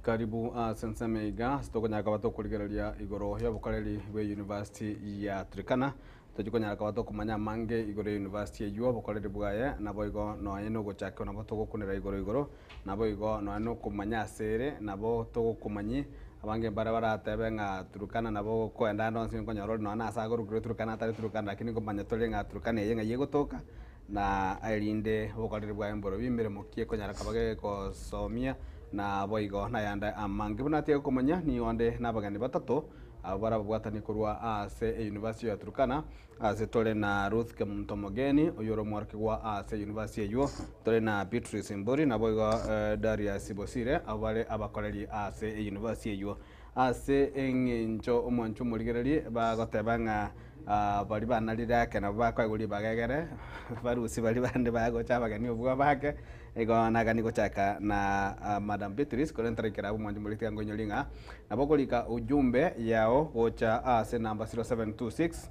Karibu ase ensemo iga ase tokonyara koba tokorigereria igoro y'obokoreri bwe University ya Turkana. Tochia konyara koba tokomanya amange igoro ye University eyio, obokoreri bwaye, naboigo nonya nogochakigwa nabo togokunera igoro igoro, naboigo nonya nokomanya ase ere, nabo togokomanyi abange mbare baratebe ng'a Turkana nabo okoenda ande onsi nkonyora ore nonya nase agorokirwe Turkana atari Turkana, rakini nkomanya tore ng'a Turkana eye ng'ai egotoka, na erinde obokoreri bwaye mborobio emeremo ki ekonyara koba gegosomia, na boigo nayande amange. Buna atige komanya, nigo nde nabageni batato abwo bare ababwatani korwa ase eyunivasiti ya Turkana. Ase tore na Ruth Kemuntomogeni, oyio ore omworokigwa ase eyunivasiti eyio. Tore na Beatrice Mburi, naboigo Darius Bosire, abwo bare abakoreri ase eyunivasiti eyio. Ase engencho omwancho omorigererie bagoteba ng'a baria banarire ake nabo bakoegwa ribaga egere, barusi baria bande bagocha abageni obua bake, igo nagani gochaka na Madam Beatrice korende ntaraikera abwo omwancho omorikiri tiga nkoinyoria ng'a nabo okorika ujumbe yao gocha ase number 0726.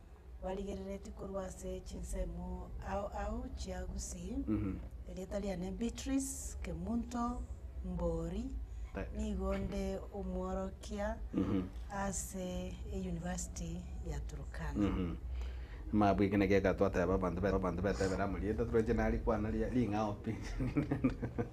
barigereretie korwa ase chinsemo ao ao chia Gusii, erieta riane Beatrice Kemunto Mbori, nigo nde omworokia ase eyunivasiti ya Turkana. Maya bweka naki ekatwateba abanto be- abanto betebera amo rieta toroche narikwana ria- ring'ao pi.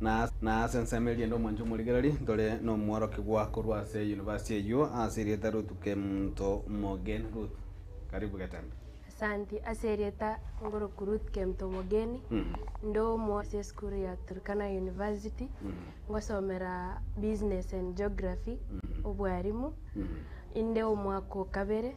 na ase ensemo eria ende omwancha omorigereri, ntore nomworokigwa korwa ase University eyio ase erieta Ruth Kemto Mogeni. Ruth, karibu getembe. Asanti, ase erieta ngoroku Ruth Kemto Mogeni, inde omo ase esukuru ya Turkana University, ngosomera Business and Geography, obwarimu, inde omwaka o kabere.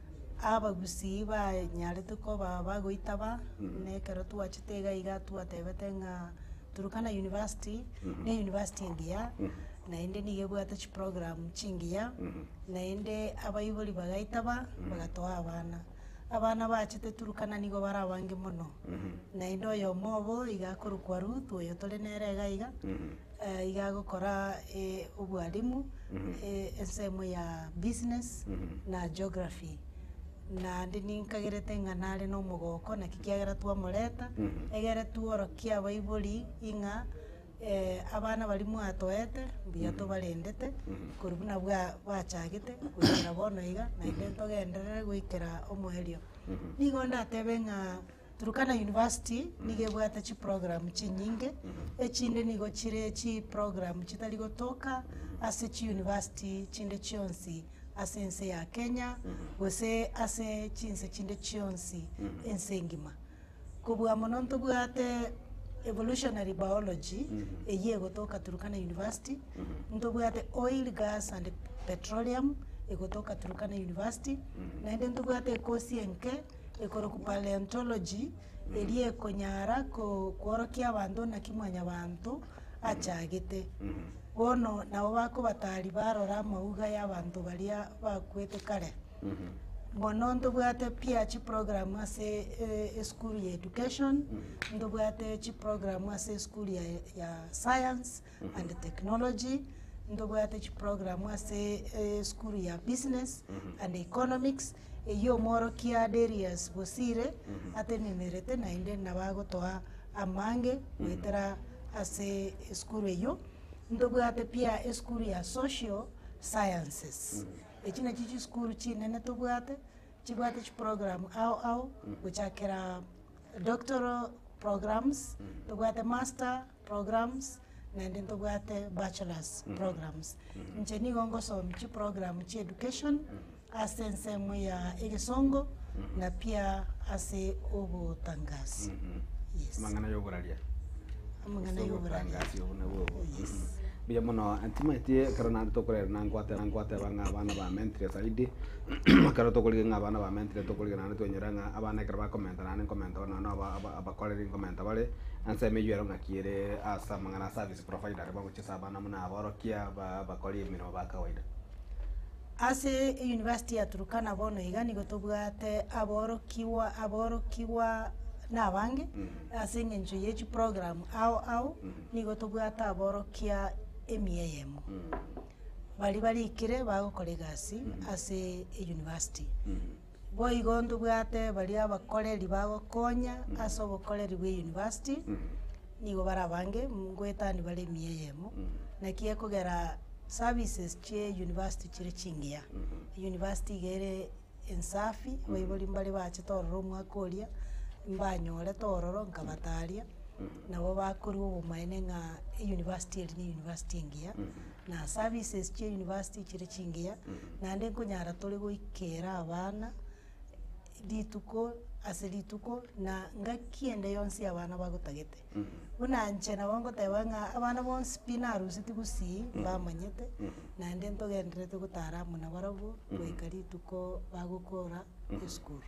Abagusii banyarete koba bagoita ba, na ekero twachete iga iga twatebete ng'a Turkana University, ne university engiya, naende nigo ebwate chiprogram chingiya, naende abaibori bagaita ba, bagatoa abana. Abana bachete Turkana nigo bare abange mono, naende oyomo obo iga akorokwa Ruth, oyo tore nere iga iga. iga agokora obwalimu, ensemo ya business na geography. Naende ninkagerete ng'a nare na omogoko naki kiagera twamoreta, egere tworokie abaibori ng'a abana baria mwatoete mbuya tobarendete, korwa buna bachagete goikera bono iga, naende togenderere goikera omoerio. Nigo ndatebe ng'a. Turkana University nigo ebwate chiprogram chinyinge, echinde nigo chire chiprogram chitari gotoka ase chiuniversity chinde chionsi ase ense ya Kenya, gose ase chinse chinde chionsi ense engima. Kobua mono ntobwate Evolutionary Biology, eyio egotoka Turkana University, ntobwate Oil, Gas and Petroleum, egotoka Turkana University, naende ntobwate ekosi enke ekorokwa Paleontology, eria ekonyara kworokia abanto naki mwanyabanto achagete. Bono nabo bakobatari barora amauga y'abanto baria bakwete kare. Mono ntobwate pia chiprogramu ase e- esukuru ya education, ntobwate chiprogramu ase esukuru ya- ya science. and technology, ntobwate chiprogramu ase esukuru ya business and economics, eywo omworokia Darius Bosire atenenerete naende nabo agotoa amange goetera ase esukuru eywo. Ntobwate pia esukuru ya social sciences, echio nachio chisukuru chinene tobwate, chibwate chiprogramu ao ao gochakera doctoral programs, tobwate master programs naende ntobwate bachelors programs. Inche nigo ngosomia chiprogram chia education ase ensemo ya egesongo na pia ase obotangasi. Yes. amang'ana y'oboraria Amang'ana Ase y'oboraria. obotangasi obwo nabwo obwo. Yes. Mhm. Mbuya mono ntimaeti ekero naende tokorera nangwate nangwateba ng'a abana bamentire zaidi ekero tokorigia ng'a abana bamentire tokorigia naende twenyora ng'a abana ekero bakomenta naende nkomenta bono nonya na aba aba Abakoreri nkomenta bare ensemo eyio ero ng'aki ere ase amang'ana a service provider are bagochia ase abana buna aborokia ba abakori emeremo ba kawaida. Ase University ya Turkana bono iga nigo tobwate aborokigwa aborokigwa nabange ase eng'encho ye chiprogram ao ao nigo tobwate aborokia emia eyemo baria barikire bagokora egasi ase University. Boigo ntobwate baria abakoreri bagokonya ase obokoreri bwe university, nigo bare abange ngoetani bare emiya eyemo, naki ekogera services chie university chire chingiya. University iga ere ensafi, abaibori mbare bachete ororo omwaka oria, mbanyorete ororo nkabataria, nabo bakorwa obomaene ng'a university eri ne university engiya. na services chia university chire chingiya, naende nkonyara tore goikera abana rituko ase rituko na ngaki ende yonsi abana bagotagete. Buna inche nabo ngoteba ng'a abana bonsi pi naruseti gusii mbamanyete, naende ntogendererete gotara amo nabarabwo goika rituko bagokora esukuru.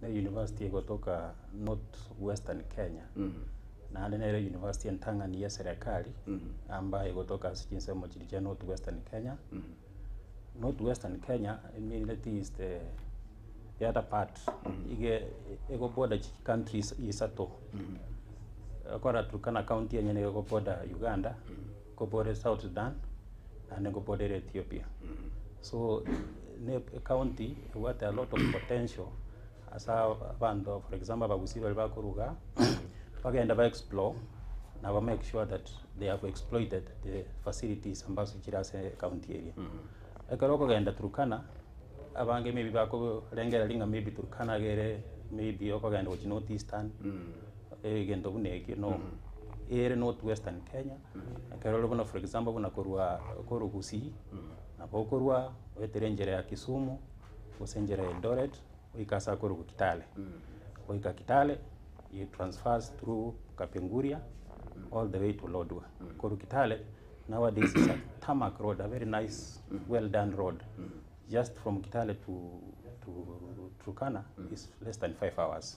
na university egotoka North Western Kenya, naende nere university entang'ani ya eserekari amba egotoka ase chinsemo chiria chia North Western Kenya. North Western Kenya emineti is the the other part iga ego border chi countries isato, okora Turkana county enyene nigo ego border Uganda, Kobore South Sudan naende koborere Ethiopia. So ne ecounty ebwate a lot of potential ase abanto for example abagusii baria bakoruga bagende ba explore na ba make sure that they have exploited the facilities ambazo chire ase ecounty eria. Ekero okogenda Turkana abange maybe bakorengereria ng'a maybe Turkana nigo ere maybe okogenda gochia North Eastern Egento buna ekio no ere north western Kenya, ekero ore buna for example buna korwa korwa Gusii, nabo okorwa oetere enchera ya Kisumu, gose enchera ya Eldoret, goika ase akorwa korwa Kitale. Goika Kitale, you transfers through Kapenguria all the way to Lodwar. Korwa Kitale, nowadays is a tarmac road, a very nice well done road, just from Kitale to to Turkana is less than five hours.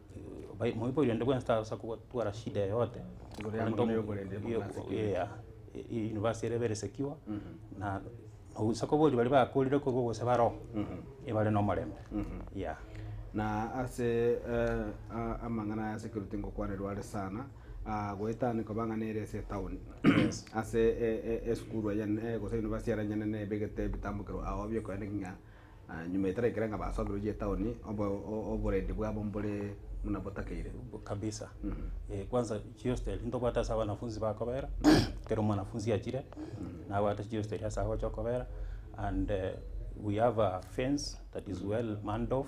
Bai- moiboire onde bwensi tasa kogwa- twara shida yoyote, Igoro ya Korende mono omo- yokorende imo- iyo- nasikire. yea, e- e- university ere very secure, na nogosa kobori baria bakorire korwa gose baroho, ebare na omorembe, yea. Na ase a- amang'ana aya ase ekero tingokwanerwa are sana, aa goetania koba ng'a nere ase etown, ase e- e- esukuru enene gose university ere enyanene ebegete ebitambo kero ao biokoenda ng'a. Nyuma etara ekere ng'a basoberwe chitaoni, obo- o- oborendi bwabo mbore buna botakeire. kabisa eh, kwanza chiosteri ntobwate ase abanafunzi bakobera, kera omwanafunzi achire nabwate chiosteri ase agocha okobera and we have a fence that is well manned off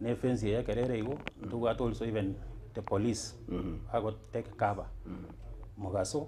na efence eye ekero ere igo ntobwate also even the police bago take cover mogaso.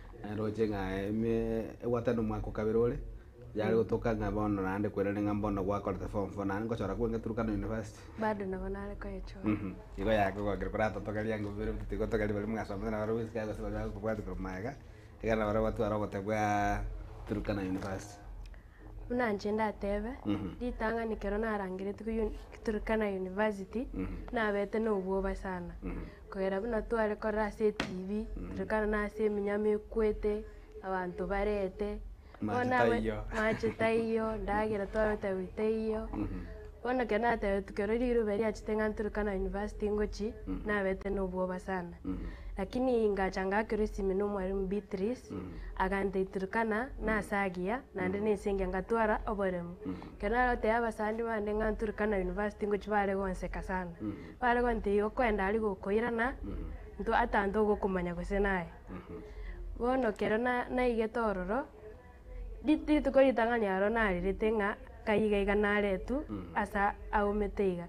Roche ng'a egwatano omwaka o kabere ore, yare gotoka ng'a bono naende kwerende ng'a bono gwakorete form four naende ngochora kweng'e Turkana University. Bado nabo nare koyechora. Mhm. Igo yakogokia koratotogeria ng'a bire mbuya tigotogeria baria mwasomete na barabwo esika gose baria bagokobwati korwa magega, ekero na barabwo batwara ogotebwa Turkana University. Buna inche ndatebe, ritang'ani ekero narangeretie korwa uni, Turkana University, nabete na obwoba sana. Kogera buna tware korora ase etibi, Turkana na ase eminyama ekwete, abanto barete. Amache Bono aba- taiyo. Amache taiyo, endagera twabete abwo taiyo. Bono ekero natebeti kerore riruba erio achete ng'a nturikana university ngochi, nabete nobwoba sana. Lakini ngacha ngakerwa esimi nomwarimu Beatrice, agantera iturikana nase agiya, naende nense engiya ngatwara oboremu. Ekero narotebia abasani bande ng'a nturikana university ngochi bare gonseka sana. Bare gontebia igo kwenda aria gokoirana, ntwe ata ntogokomanya gose naye. Bono ekero na- naigete ororo. rituko ritang'ani aro narerete ng'a kai iga iga naretwe ase aumete iga.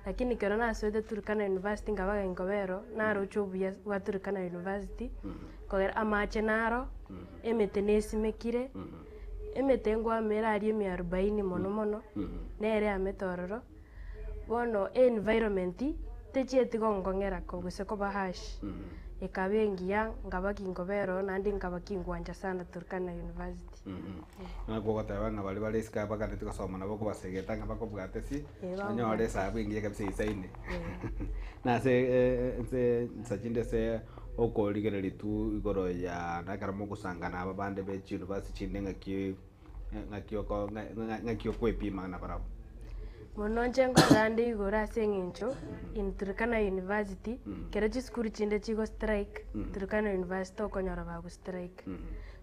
Lakini ekero nasoete Turkana University nkaba gaki nkoba ero, naroche obuya bwa Turkana University, kogera amache naro, emete nesimekire, emete nkwama ere aria emiarubaini mono mono, nere eamete ororo. Bono environment techieti gongong'era ko gose koba harsh ekaba engiya nkaba kinkobera oo naende nkaba kingwancha sana Turkana University. Ng'a kogoteba ng'a baria bare isiko abaganetie gosoma nabo okobasegeta ng'a bakobwate pi, Eh, babo nonyore bwate. esabu engiya kabisa eisaine. Nase eh, nse nsa chinde ase okorigereria tu igoro ya na ekero mogosanga na aba bande be chiuniversity chinde ng'aki ng'aki oko- ng'a- ng'a- ng'aki okwepimana nabarabwo. Bono inche nkorera ande igoro ase eng'encho in Turkana university, ekero chisukuru chinde chigo strike, Turkana university okonyora bago strike.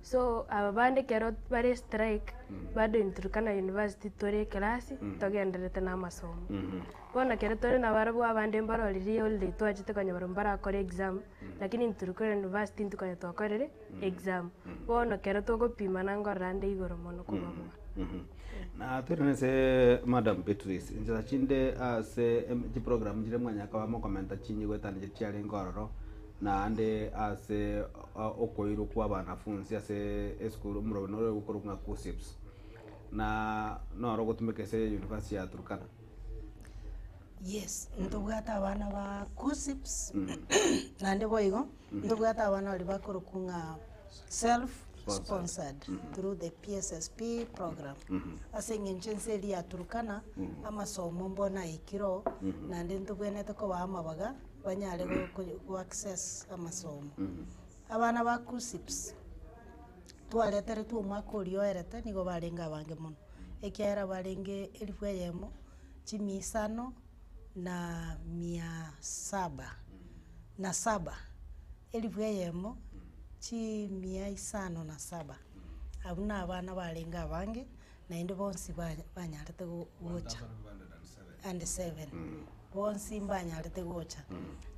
So aba bande ekero bare strike, bado in Turkana university tore ekelasi, togendererete na amasomo. Bono ekero tore nabarabwo abande mbarorire holiday twachete konyora mbarakore exam. lakini intwe tiri korwa university intwe konya twakorire exam. Bono ekero togopimana ngorora nde igoro mono kobaboa. Na tore nase Madam Beatrice, inchera chinde ase em- chiprogram chire mwanya koba mokomenta chinyigwa etano chiarenge ororo, naende ase o- okoirwa kwa abanafunzi ase esukuru omorwabani oyo okorokwa ng'a KUSSIPS, na noro ogotumeka ase University ya Turkana. Yes, ntobwate abana ba gossips, naende boigo, ntobwate abana baria bakorokwa ng'a self sponsored through the PSSP program. Ase eng'encho ense eria ya Turkana, amasomo mbwenu naikire oo, naende ntobwenerete kobaa amabaga, banyare go- ko- go access amasomo. Abana ba Kusips, twareteretwe omwaka oria oerete nigo barenge abange mono, ekiagera barenge elifu eyemo, chimi isano na mia saba na saba, elifu eyemo, chimia isano na saba, abwo nabana barenge abange, naende bonsi banya banyarete go- gocha, and seven, bonsi mbanyarete gocha.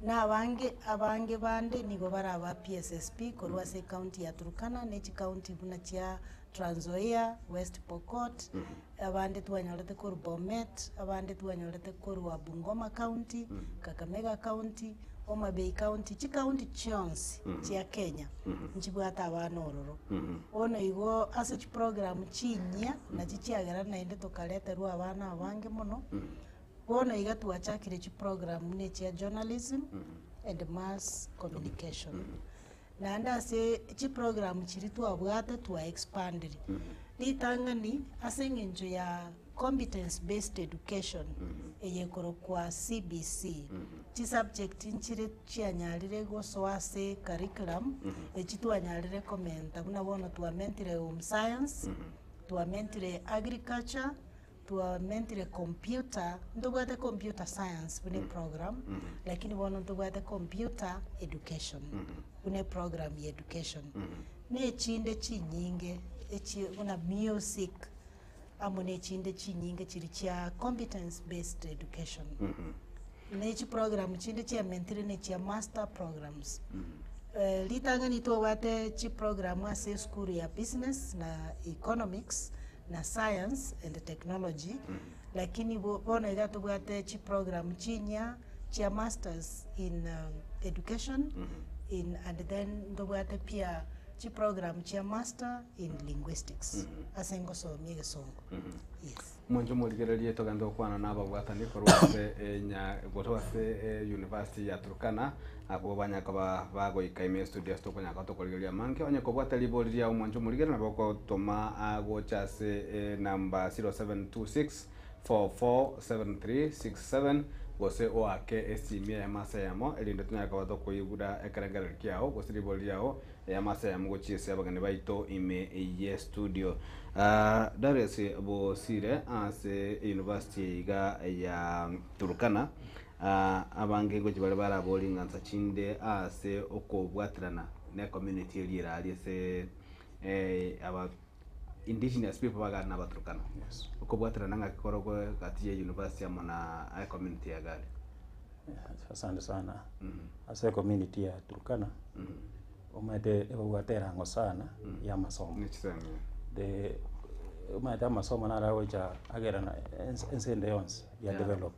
Na abange abange bande nigo bare aba PSSP korwa ase ekaunti ya Turkana, ne chikaunti buna chia, Tranzoia, West Pokot, abande twanyorete korwa Bomet, abande twanyorete korwa Bungoma county, Kakamega county. Homa Bay County, chikaunti chionsi chia Kenya nchibwate abana ororo. Bono igo ase chiprogramu chinyia na chichiagera naende tokareterwa abana abange mono. Bono iga twachakire chiprogramu buna echia journalism and mass communication. Naende ase chiprogram chiria twabwate twa expanded ritang'ani ase eng'encho ya competence based education eye ekorokwa CBC. Chisubject nchire chianyarire gosoa ase curriculum echio twanyarire komenta buna bono twamentire Home Science, twamentire Agriculture, Twamentire computer, ntobwate computer science buna eprogram, lakini bono ntobwate computer education, buna eprogram ya education. Na echinde chinyinge echie buna music, amo na echinde chinyinge chiri chia competence based education. Na echiprogram chinde chiamentire ne chia master programs. Eh, ritang'ani tobwate chiprogram ase esukuru ya business na economics, na science and technology, lakini bo bono iga tobwate chiprogram chinyia chia masters in education in and then ntobwate pia chiprogram chia master in linguistics ase ngosomia egesongo, yes. Monto morigererie togende gokwana na ababwatani korwa ase enya korwa ase university ya Turkana. Abwo banya koba ba goika ime studios tokonyara koba tokorigereria amange onye kobwate ribori ria omwancho omorigere nabo ogotoma agocha ase e number 0726447367 gose oake esimi eyemo ase eyemo erinde tonyare koba tokoigura ekerengerero kiao gose ribori riao eyemo ase eyemo gochia ase abageni baito ime eyie studio. Darius bosire ase University iga ya Turkana. abange ngochia baria barabore ing'ansa chinde aase okobwaterana ne community eria ere aria ase aba indigenous people bagare na abaturukana. Okobwaterana ng'aki korokwe gati ya university amo na aye community ya gari. Asante sana, ase ecommunity ya Turkana, omanyete ebabwate erango sana ya amasomo. Omanyete amasomo naro agocha agerana ense ende yonsi ya develop.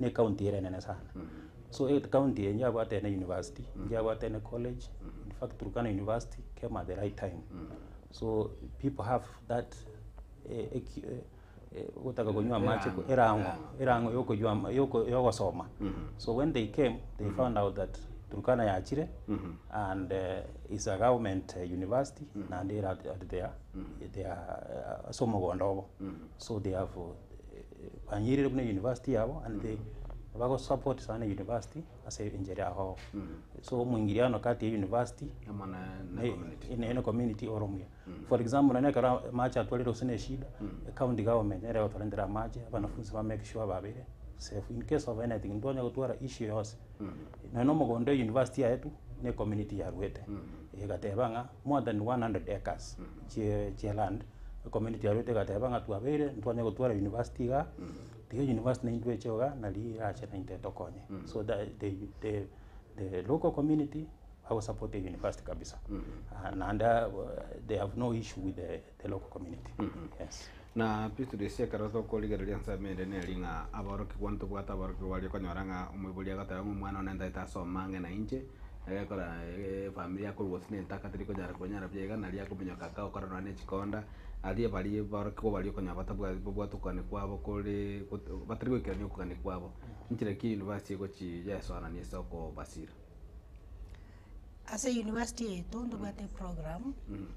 Ne county ere enene sana so county enye yabwate ene university enye yabwate ene college in fact Turkana university came at the right time so people have that eh, eki- eh, eh, gotaka konywa amache Erang'o. erang'o erang'o yokoywa ama- yoko- yogosoma so when they came they found out that Turkana yachire and eh, is a government eh, university naende ere at at their their eh, ase omogondo obo so they have eh, Banyeirire buna university yabo and they bago support sana university ase enchera ya gogo. So omoingiriano kati ya university na na community ore omuya. For example nonya ekero amache atwarire gose na eshida, county government nere egotorentera amache, abanafunzi ba make sure babeire safe. In case of anything, ntibanya gotwara issue yonsi. Nonya na omogondo e university yaye tu, na ecommunity yarwete, egateba ng'a more than 100 acres chie chia land, ecommunity yarwete egateba ng'a twabeire ntwanya gotwara university igaa, tiga university naintwe eche igaa, na riirache naintwe tokonye. So tha- the the the local community bagosapota university kabisa. Naende they have no issue with the. the local community. Mm -hmm. Yes. Na Petero ase ekero tokorigereria ensemo ende neri ng'a aborokigwa ntobwate aborokigwa aria okonyora ng'a omoibori agoteba ng'a omwana one ntaete ase omang'ina inche egekora efamiri yakorwa gose na entaka teri konyara kwenyara buya iga nari akominyoka agakora nonya na echikonda aria baria aborokigwa baria okonyora batabwati babwate okogania kwabo kore gote batari goikerania okogania kwabo. Inchera ki university egochi yaesoanani ase okobasira? Ase university yaito ntobwate eprogramu,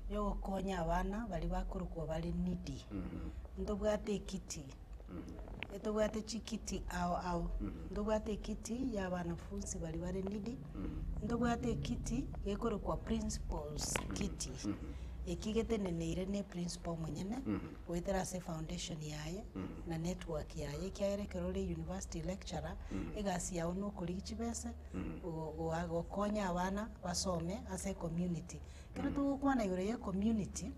ya ogokonya abana baria bakorokwa bare needy, ntobwate ekiti, etobwate chikiti ao ao, ntobwate ekiti ya abanafunsi baria bare needy, ntobwate ekiti gekorokwa principal's kiti, eki geteneneire na eprinciple omonyene, goetera ase efoundation yaye, na network yaye, ekiagera ekero ore university lecturer, egasi yago nokorigia chibese. gokonya abana basome ase ecommunity. Ekero togokwana igoro ye ecommunity,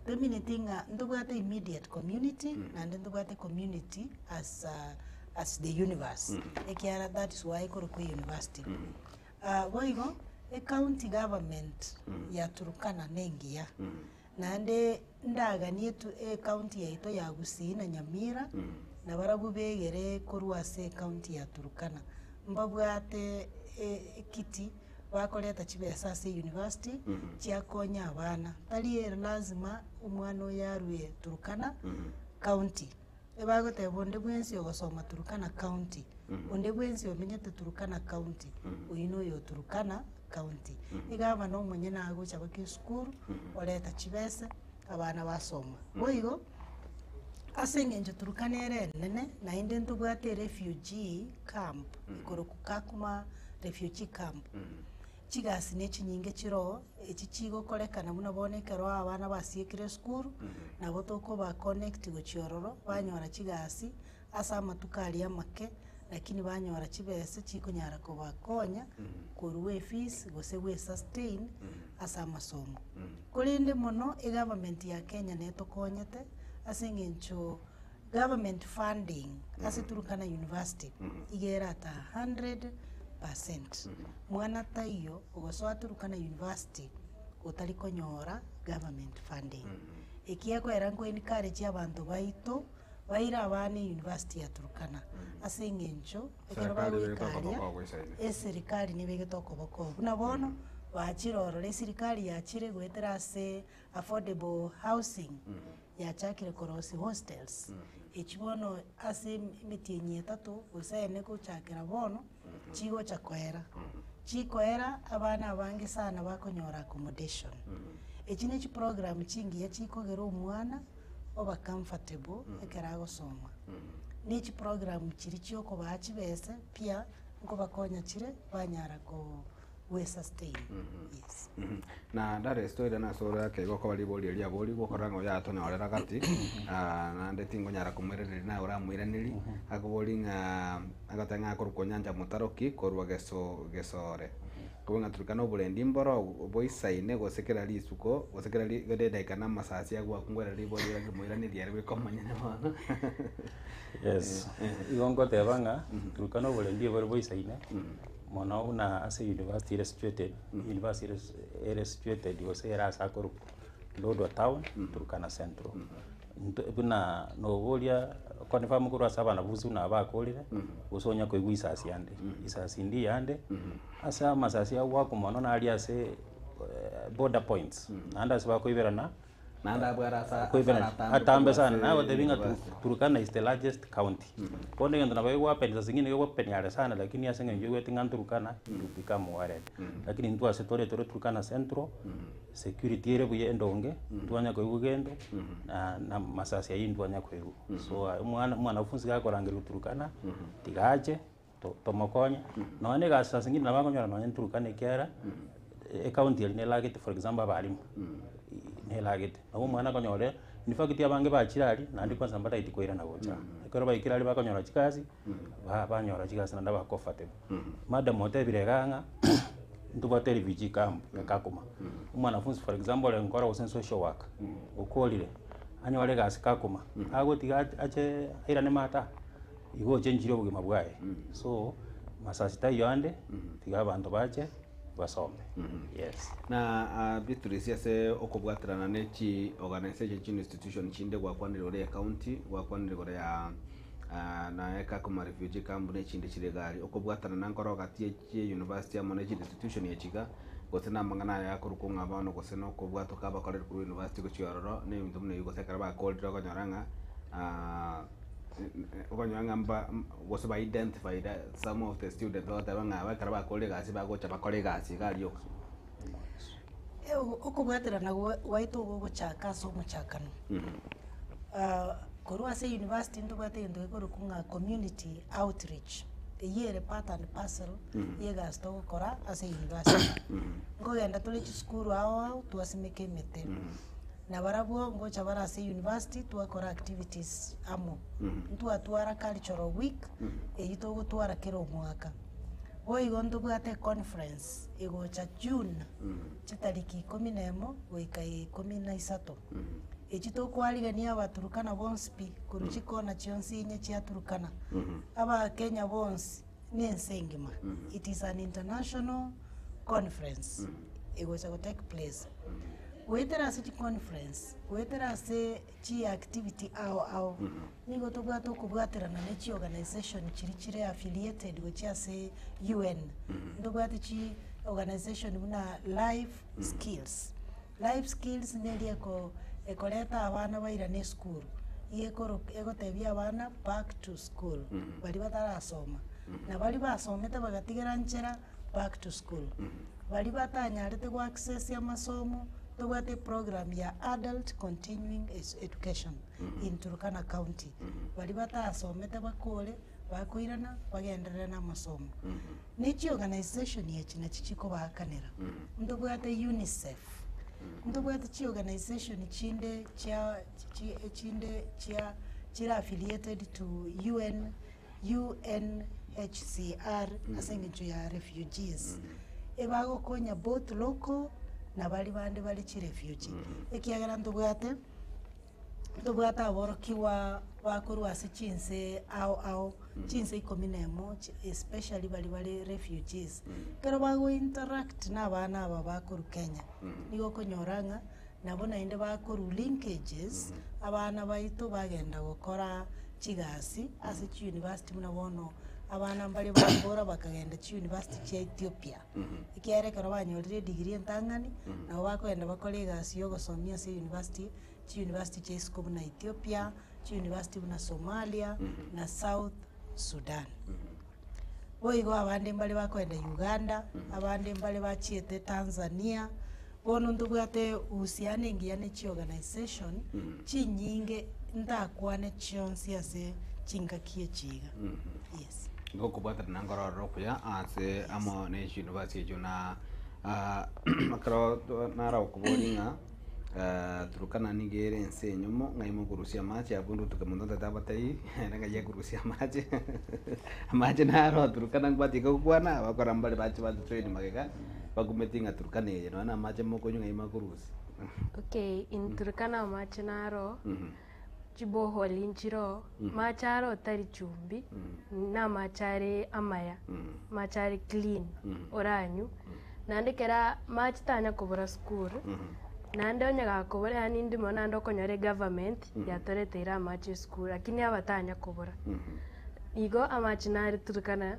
tomineti ng'a ntobwate immediate community naende ntobwate community as a as the universe, ekiagera that is why ekorokwa euniversity. Boigo ecounty government ya Turkana nengiya. naende ndaganie tu ecounty yaito ya Gusii na Nyamira, na barabwo begere korwa ase ecounty ya Turkana, mbabwate e- ekiti bakoreta chibesa ase university, chiakonya abana. Tari lazima omwana oyo arue Turkana county. Ebagoteba onde bwensi ogosoma Turkana county, onde bwensi omenyete Turkana county, oyio na oyo Turkana county. Egavana omonye nigo agocha goika esukuru, oreta chibesa, abana basoma. Boigo, ase eng'encho Turkana ere enene, naende ntobwate refugee camp, ekoroku Kakuma refugee camp. chigasi ne chinyinge chiroo, echi chigokorekana buna bono ekero abana basiekire esukuru, nabo tokoba connect gochia ororo, banyora chigasi ase amatuko aria amake, lakini banyora chibesa chikonyara kobakonya, korwa efees gose goesustain ase amasomo. Korende mono egovernment ya Kenya nere tokonyete, ase eng'encho. Government funding ase Turkana University iga erataha 100 percent. Mwana taiyo ogosoa Turkana University otari konyora government funding. Eki ekoera nko encourage abanto baito baire abana University ya Turkana ase eng'encho ekero Serikali nigo etokoba bagoikaria kobo isa ime. eserikari nigo egete okoboko oo. Buna bono bachire ororo esirikari yachire goetera ase affordable housing. yachakire korosia hostels, echio bono ase emetienyi etato gose ene gochakera bono, chigocha koera. Chikoera abana abange sana bakonyora accommodation. Echi ne chiprogram chingiya chikogera omwana oba comfortable ekero agosoma. Ne echiprogram chiria chiokobaa chibese pi nkobakonya chire banyara ko. we sustain yes. Na Darius toirane ase ore akeigwa okobaa riborio eria abori gokora ng'a oyatonyorera gati naende tingonyara komoiraneria naye oramoiranerie akobori ng'a agoteba ng'a akorokwa onyancha motaro ki korwa geso gesore kobua ng'a turikana oborendi mboro obo boisaine gose kera risuko gose kera ri kera edaika na amasasi aywo gwakungorera riborio ere rimoiraneria ere bweka omonyene bono Yes igo ngoteba ng'a turukana oborendi obore boisaine. mono buna ase university ere situated, university ere si- ere situated gose ere ase akorokwa Lodwar town, Turkana central. Nto buna nobo oria okonifirm korwa ase abanafunsi buna aba akorire, gose onya koigwa isasi yande, isasi indie yande, ase amasasi agwo akomono nari ase border points, naende ase bakoiberana. Atambe sana nagotebi ng'a Turkana is the largest county bono egento nabo egwapenisa ase eng'encho egokopenia are sana lakini ase eng'encho oigwete ng'a Turkana will become world lakini intwe ase tore tore Turkana central security ere buya endonge ntwanya koigwa gento na na masasi aywo ntwanya koigwa so omwana omwanafunsi gakorangerwa Turkana tiga ache to- tomokonye, nonya na egasi ase eng'encho nabo akonyora nonya na Turkana ekiagera ecounty eria nelagete for example abalimu, nelagete. Nabo omwana akonyore infact abange bachire aria, naende kwansa mbataeti koirana gocha aa. Ekero baikire aria bakonyora chigasi, ba- banyora chigasi naende aba comfortable. Madam otebire igaa ng'a ntobwate erefugee camp ya Kakuma, omwanafunzi for example ore nkora gose social work, okorire, anyore egasi Kakuma, agotiga ache airane maate aa. igo ochenchire obogima bwaye. So masasi taiyo ande, tiga abanto bache basome. Yes. Na ah, Beatrice ase okobwaterana ne chi organisation chinde institution chinde gwakwanire ore ya county gwakwanire gore ya ah, naye Kakuma refugee camp ne chinde chire iga aria okobwaterana nkoro gati chia University amo ne chidisitushoni ya chiga, gose namang'ana aye akorokwo ng'a bono gose nokobwatwa kabakoreri korwa University gochia ororo, ne ebinto buna ebi gose ekero bakorire okonyora ng'a okonyora ng'a mba gose ba identified some of the students bagoteba ng'a aba ekero bakorire egasi bagocha bakore egasi iga aria oka. Okobwaterana gwaito gogochaka ase omochakano, korwa ase university ntobwate egento gekorokwa ng'a community outreach, eyio ere part and parcel ye egasi togokora ase university. Nkogenda tore chisukuru ao ao twasimeka emete, na barabwo ngocha bare ase university twakora activities amo, ntwatwara cultural week eyio togotwara kera omwaka. Boigo ntobwate econference. August egocha June, chitariki ikomi na emo goika ikomi na isato, echi tokwarigania Abaturkana bonsi pi, korwa chikona chionsi inye chia Turkana, Abakenya bonsi, na ense engima. It is an international conference egocha go take place. Goetera ase chiconference, goetera ase chiactivity ao ao. Nigo tobwate okobwaterana ne chiorganisation chiria chire affiliated gochia ase UN. Ntobwate chi organisation buna life skills. Life skills neria eko ekoreta abana bairane esukuru, iga ekoro egotebia abana back to school baria batarasoma, na baria basomete bagatigera nchera back to school. Baria batanyarete goaccessia amasomo, tobwate eprogram ya adult continuing education. in Turkana County, baria batasomete bakore bakoirana bagenderere namasomo. Nechi organisation echi nachi chikobaakanera. Ntobwate UNICEF, ntobwate chiorganisation chinde chia chi echinde chia chire affiliated to UN, UNHCR ase eng'encho ya refugees, ebagokonya both local na baria bande bare chirefugee, ekiagera ntobwate. Ntobwate aborokigwa ba korwa ase chinse ao ao, chinse ikomi na emo, chi- especially baria bare refugees. Ekero bago interact na abana aba ba korwa Kenya, nigo okonyora ng'a nabo naende bakorwa linkages, abana baito bagenda gokora chigasi ase chi university buna bono abana mbare bakora bakagenda chi university chia Ethiopia. ekiagera ekero banyorire edigiri entang'ani, nabo bakoenda bakore egasi y'ogosomi ase eyunivasiti, chiyunivasiti chia isiko buna Ethiopia, chiyunivasiti buna Somalia, na South Sudan. Boigo abande mbare bakoenda Uganda, abande mbare bachiete Tanzania. Bono ntobwate uhusiano engiya ne chiorganisation chinyinge ntakwane chionsi ase chingaki echi iga. Yes. Nigo okobwatana na nkororero okuya ase amo na echiyunivasiti echio na ah, ekero to- naragokoboria ng'a eh, Turkana nigo ere ense enyomo ng'ai mokorusia amache abwo ndotuke monto ntaete abatebi ere ng'ai ekorusia amache amache naro Turkana mbwate iga gokwana abakora mbare bache bato train magega. Bakumeti ng'a Turkana eye nonya namache mokonywa ng'a ime akorusia. Okay in Turkana amache naro chiboholi nchiro amache aro tari chumbi namache are amaya amache are clean oranywe naende kera amache tanya kobora sukuru naende onye gakobora yaani ndimo naende okonyora egovernment yatoreteire amache esukuru lakini aba tanya kobora igo amache nare Turkana.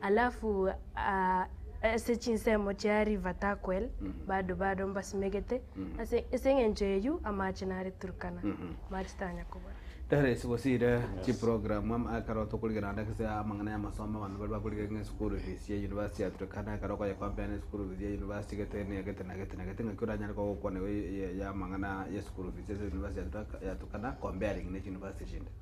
Alafu ase chinsemo chia River Turkwell bado bado mbasimegete, ase engencho eyio amaache nare Turkana, amaache tanya kobora. Doris, gose ire chiprogramu ama ekero tokorigia naende ase amang'ana y'amasomo abanto baria bakorigia ng'a eschool fees ya university ya Turkana ekero okoyecompare na eschool fees ya university gete na egete na egete na egete ng'aki oranyare koba ogokwana iga ya amang'ana ya eschool fees ase university ya Turkana comparing ne chiuniversity chinde.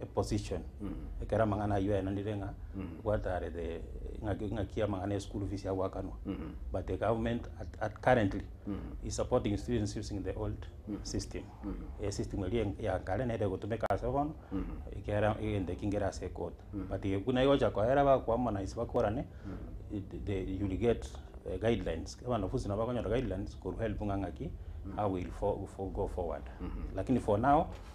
eposition ekero amang'ana ayio aenanire ng'a gwatarete ng'aki ng'aki amang'ana ya eschool fees yagoakanwa but the government at at currently is supporting students using the old system esystem eria en- ya kare nere egotumeka ase bono ekere egento ekio nkere ase ekoti but igo buna egocha koera bakoharmonize bakorane it the you will get eh, guidelines ekero abanafunzi nabo bakonyora guidelines korwa help ng'a ng'aki how will fo- fo- go forward lakini for now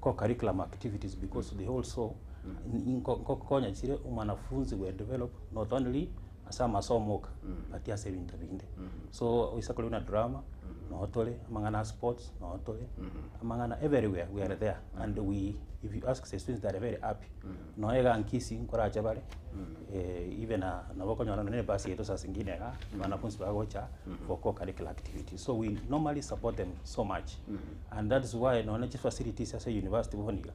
co-curriculum activities because they also nko- nkokonya chire omwanafunzi we develop not only ase amasomo oka but ase ebinto binde so oise korwa buna drama noo tore amang'ana ya sports noo tore amang'ana everywhere we are there and we if you ask the students they are very happy nonya iga nkisi nkorache bare, even na nabo okonyora nonya na ebus yaito saa zingine igaa, banafunzi bagocha for co-curricular activities, so we normally support them so much and that is why nonya na chifacilities ase university bono iga,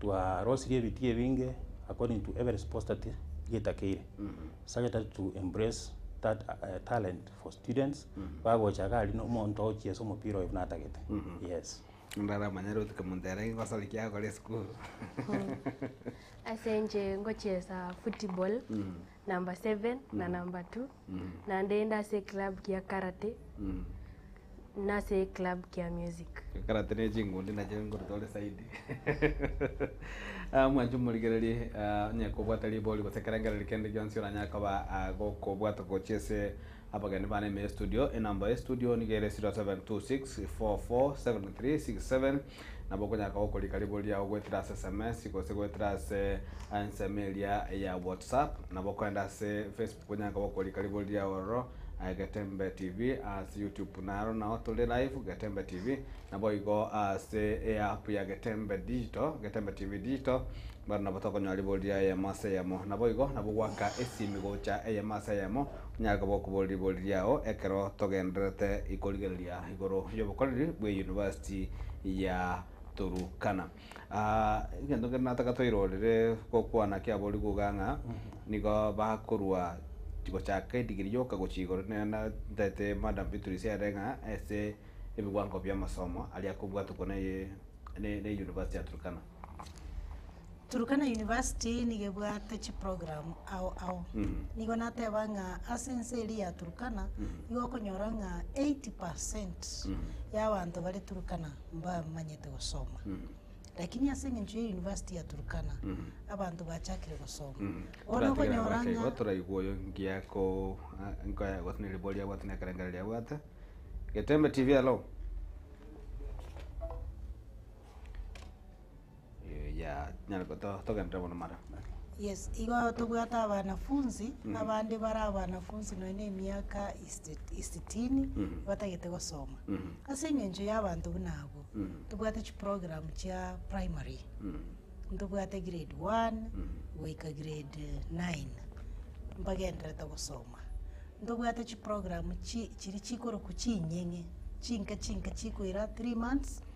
twarosirie ebiti ebinge according to every sports that getakeire, sagete to embrace that talent for students, bagocha iga aria na omonto ogochia ase omopira oyo buna atagete, yes. Ndaramanyare gotukia monto ere ngosare ki agokora esukuru. Ase inche ngochesa football number seven na number two naende inde ase eclub kia karate na ase eclub kia music. Ekarate ne chingundi nachio nkoruta ore side. Mwanche omorigereria onye kobwata ribori gose ekerengerero kende gionsi oranyare koba gokobwata gochia ase Abageni bane ime y'estudio, enamba y'estudio nigo ere 0726447367, nabo okonyaka gokorika ribori riago goetera ase sms gose goetera ase ensemo eria ya WhatsApp. Nabo okogenda ase Facebook onyanka gokorika ribori riago ororo, Getembe TV, ase YouTube naro nao tore live, Getembe TV, naboigo ase eapp ya Getembe Digital, Getembe TV Digital, Mbwenu nabo tokonyora riborio ria eyemo ase eyemo. Naboigo, nabo goaka esimi gocha eyemo ase eyemo, onyare koba okoboria riborio riao ekero togendererete korigereria igoro y'obokoreri bwe University ya Turkana. Egento kende nataka toirorere gokwana kiaboriri gokigaka ng'a nigo bakorwa gochaka edigiri yoka gochia igoro ntaete Madam Beatrice ere ng'a ase ebiwango bi'amasomo aria akobwatokwa ne University ya Turkana. Turkana university nigo ebwate chiprogram ao ao, nigo nateba ng'a ase ense eria ya Turkana, nigo okonyora ng'a eighty percent y'abanto bare Turkana mbamanyete gosoma. Lakini ase eng'encho ya university ya Turkana, abanto bachakire gosoma. Bono okonyora ng'a. Igo toraigwe oyo ngiya ko a- nkoya gose ne riboria abwate na ekerengererio abwate. Getembe TV, hello. yaah nyare go- to- togenderere bono mara. Yes, igo tobwate abanafunzi, abande bare abanafunzi nonya na emiaka isi isitini, batagete gosoma. Ase eng'encho ya abanto buna abwo, tobwate chiprogram chia primary, ntobwate grade one goika grade nine, mbagendererete gosoma. Ntobwate chiprogram chi chiri chikorokwa ching'eng'e, chinke chinke chikoira three months.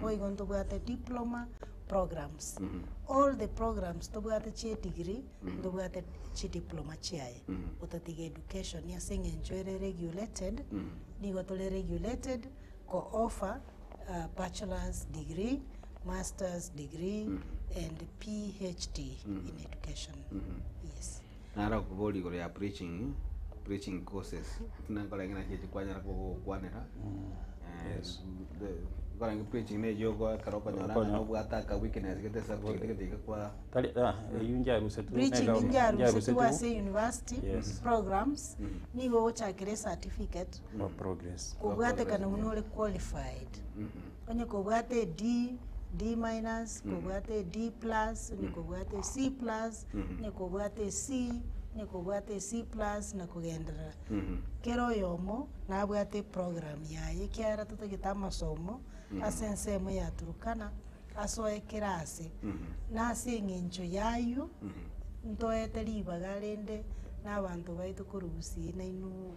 boigo ntobwate diploma programs, all the programs tobwate chia edegree ntobwate chidiploma chiaye, otatiga education ase eng'encho ere regulated, nigo tore regulated ko offer bachelors degree, masters degree, and PHD in education, yes. Naro okobooria igoro ya preaching, preaching courses, buna nkorenge naki echio kwanyara koba ogokwanera, eh, the nkorenge preaching na eyio okoa ekero okonyora Okonya- ng'a nobwate aka weakness gete esubject gete iga kwa Tari ah, eyio nchiarusetwe na Preaching egauni, nchiarusetwe nchiarusetwe ase university Yes. programs, nigo ogochakera ecertificate, for progress. kobwatekana buna ore qualified. Onye kobwate e D, D minus, kobwate e D plus, onye kobwate e C plus, onye kobwate e C, onye kobwate e C plus na kogenderera. Kera oyomo nabwate eprogram yaye ekiagera totagete amasomo ase ensemo ya Turkana asoe kera ase. Na ase eng'encho y'ayio, ntoete ribaga rende na abanto baito korwa Gusii nainwe.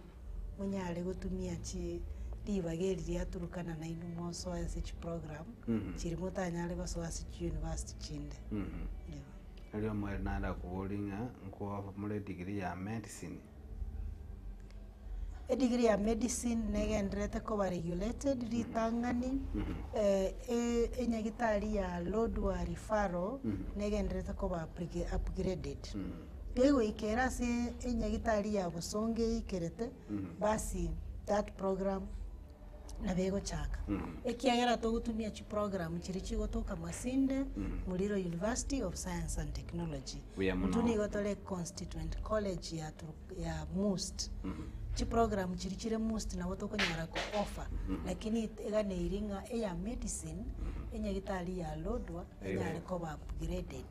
monyare gotumia chi ribaga eri riaturukana nainwe mosoe ase chiprogram Mhm. chiria motanyare gosoa ase chiuniversity chinde. Mhm. Eeh. Erio omwere naende akoborie ng'a nkwamore edigiri ya medicine. Edigiri ya medicine negenderete koba regulated ritang'ani Mhm. eh, e- enyagitari ya Lodwar Referral Mhm. negenderete koba apri- upgraded. Mhm. Kegoikera ase enyagitari ya bosongo eikerete basi that program nabo egochaka. Ekiagera togotumia chiprogram chiria chigotoka Masinde, Muliro University of Science and Technology. Buya mono. Intwe nigo tore constituent college ya Turu- ya must. Chiprogram chiria chire must nabo tokonyara ko offer, lakini eganeiri ng'a eya medicine, enyagitari ya lodwa enyare koba upgraded.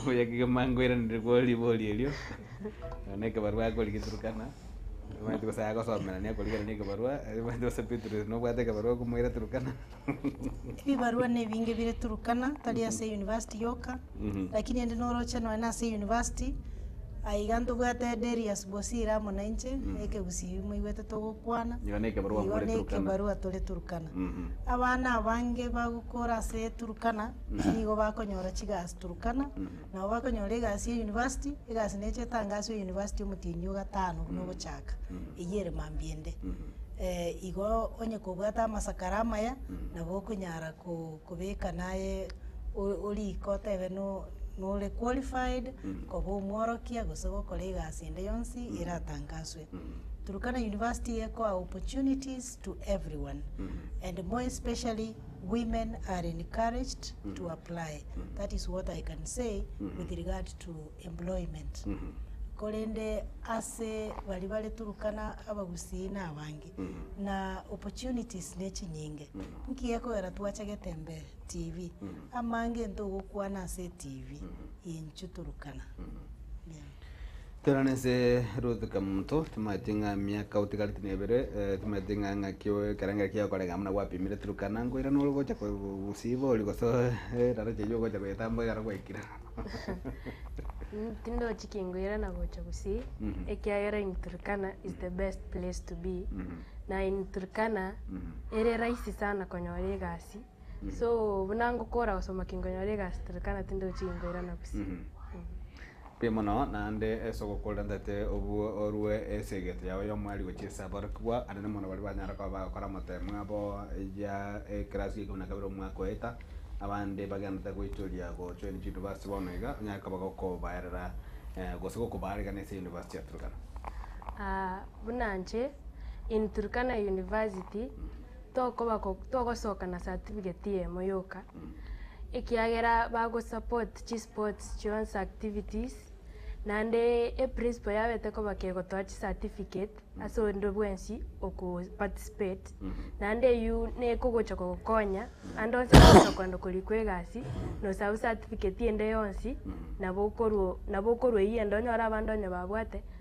Obuya kegima nkoiraneria kwo ribori erio, nonya ekebarua akori geturukana, omanyete gose agosomerania akorigerania ekebarua, omanyete gose Petero ere nobwate ekebarua okomoira Turukana. Ebibarua ne ebinge bire Turkana tari ase university yoka, lakini ende noroche nonya na ase university, aye iga ntobwate Derius Bosire amo na inche, ekegusii moigwete togokwana, Igo ne ekebarua igo more ne Turkana. ekebarua tore Turkana. Abana abange bagokora ase Turkana. nigo bakonyora chigasi Turkana, nabo bakonyora egasi ya university, egasi necha etangaswa ya university omotindi o gatano buna ogochaka, eyio ere mambia ende. igo onye kobwate amasakara amaya, nabo okonyara ko- kobeka naye o- oriko otebe no- nore qualified koba omworokia gose gokora egasi ende yonsi eratangaswe. Turkana university ekoa opportunities to everyone and more especially. women are encouraged to apply that is what I can say with regard to employment korende ase baria bare Turkana abagusii na abange na opportunities ne chinyinge nki gekogera twache getembe TV amange nto gokwana ase TV enchu Turkana. Tera nense Ruth Kamoto, timaeti ng'a emiaka otigareti nebere, timaeti ng'a ng'aki oe ekerengera ekiya okorenge amo nabo gwapimire Turkana, nkoira nore ogocha ko gosiba oria gose eraneti eywo ogocha koyetambua ekero gwaikire. Tindochi kingoira na gocha gusii, ekiagera in Turkana is the best place to be, na in Turkana ere rahisi sana konyora egasi, so buna ngokora gosoma kingonyora egasi Turkana tindochi kingoirana gusii. Pi mono naende ase ogokoorera ntete obwo orue ase egento yao y'omwari gochia ase aborokigwa anene mono baria banyare koba bagokora motemo abo ya ekerasi y'ekibi na kabere omwaka oeta, abande bagenderete goitoria gochwa inde chiyunivasiti bono iga onyare koba gokobaerera gose gokobaarigana ase eyunivasiti ya Turkana. Buna inche in Turkana University. Tokoba ko togosoka na certificate eyemo yoka ekiagera bago support chi sports chionsi activities naende e principal yabete koba kegotoa chi certificate ase onde bwensi oko participate naende eyio nekogocha kogokonya ande onsi agocha kwenda korikwa egasi nosabu certificate ende yonsi nabo okorwo nabo okorwa eyio ende onyore abande onye babwate.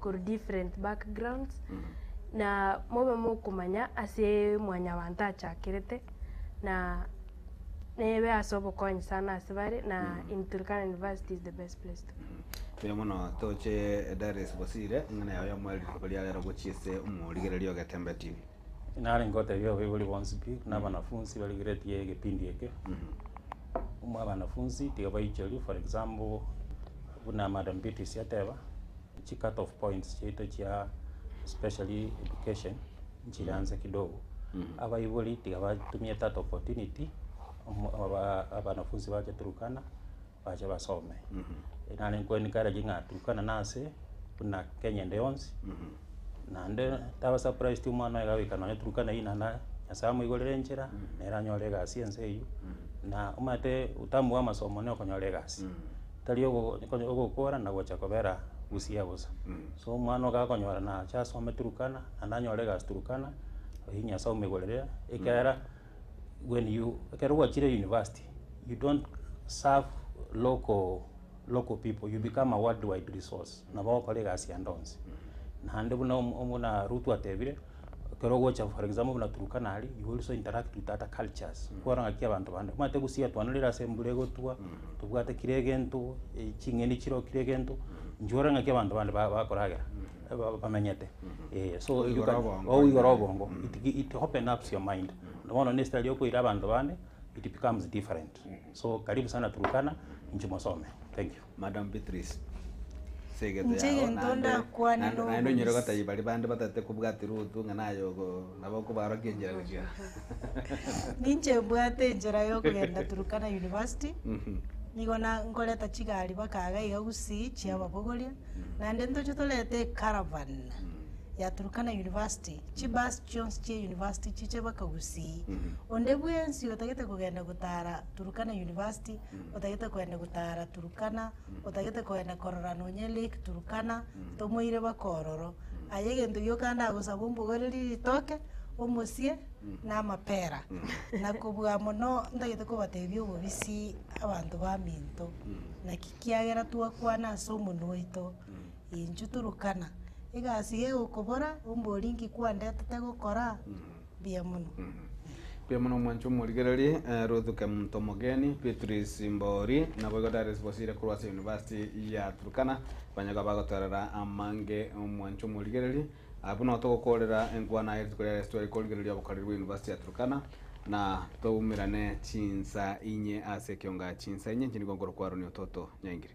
korwa different backgrounds, na mobe mokomanya ase mwanyabanto achakerete, na nebe ase obokonyi sana ase bare, na in Turkana University is the best place to be. Mbuya mono toche Darius Bosire, ing'ana yao ya omwereri rituko ria rero gochia ase omorigereria ogetembeti. Nare ngotebia abaibori bonsi pi, buna abanafunsi barigeretie egepindi eke, muna abanafunsi tiga baichorwe, for example, buna madam Beatrice ateba, chi cut off points chiaito chia especially education nchire anse kidogo, abaibori tiga batumie that opportunity, omo- oba- abanafunsi bache Turkana, bache basome. Nare nko encourage ng'a Turkana nase buna Kenya ende yonsi, naende taba surprised omwana oye gaika nonya Turkana eyio naende Nyasae amoigorere enchera, nere anyore egasi ense eyio, na omanyete utamu bwa amasomo na okonyora egasi, tari ogo ogo- ogokora na gocha kobera busiya bosa. So omwana iga akonyora nache asome Turkana, naende anyore egasi Turkana, oyio Nyasae omoigorere, ekiagera. when you ekero gwachire university you don't serve local local people you become a world wide resource nabo ogokora egasi ande onsi naende buna omo omona ruto atebire ekero ogocha for example buna Turkana aria you also interact with other cultures kwarora ng'aki abanto bande omanyete gusii atwananire ase embura egotwa tobwate kira egento ching'eni chirokire egento inche orore ng'aki abanto bande ba bakoragera. ba- bamenyete eh, so Okoigora you can- obongo okoigora ime. obongo it gi- it open ups your mind na bono ne story okoira abanto bande it becomes different so karibu sana Turkana inche mosome thank you Madam Beatrice, ase egento Inche yao egento naende- ndakwane naende- naende onyare n'obobisi. gotebia baria bande batatete kobwati Ruthu ng'a naye ogo Nabakobarokia enchera gochia. Ninche mbwate enchera yokogenda Turkana University, nigo na nkoreta chigari baka iga iga Gusii chia ababogoria, naende ntoche torete ecaravan ya Turkana University, chibus chionsi chia University chiche baka Gusii. Onde bwensi otagete kogenda gotara Turkana University, otagete kogenda gotara Turkana, otagete kogenda korora nonya lake Turkana, tomoire baka ororo, aye egento giokande agosaba ombogoreri ritoke, omosie, na amapera, na kobua mono ntagete kobatebia obobisi abanto baminto, naki kiagera twakwana ase omonwa oito, inchuo Turkana, egasi egokobora ombori nki kwandetete gokora. mbuya mono. Mbuya mono mwanche omorigereri eh, Ruth Kemunto Mogeni, Beatrice Mbori, naboigo Darius Bosire korwa ase University ya Turkana, banyagwa bagotorera amange omwanche omorigereri. Ah, buna igo togokorera enkwana eye rituko ria Yeso tware korigereria obokoreri bwa University ya Turkana, na toumerane chinsa inye ase ekionga chinsa inye inche nigo nkorokwa Aroni Ototo Nyaingire.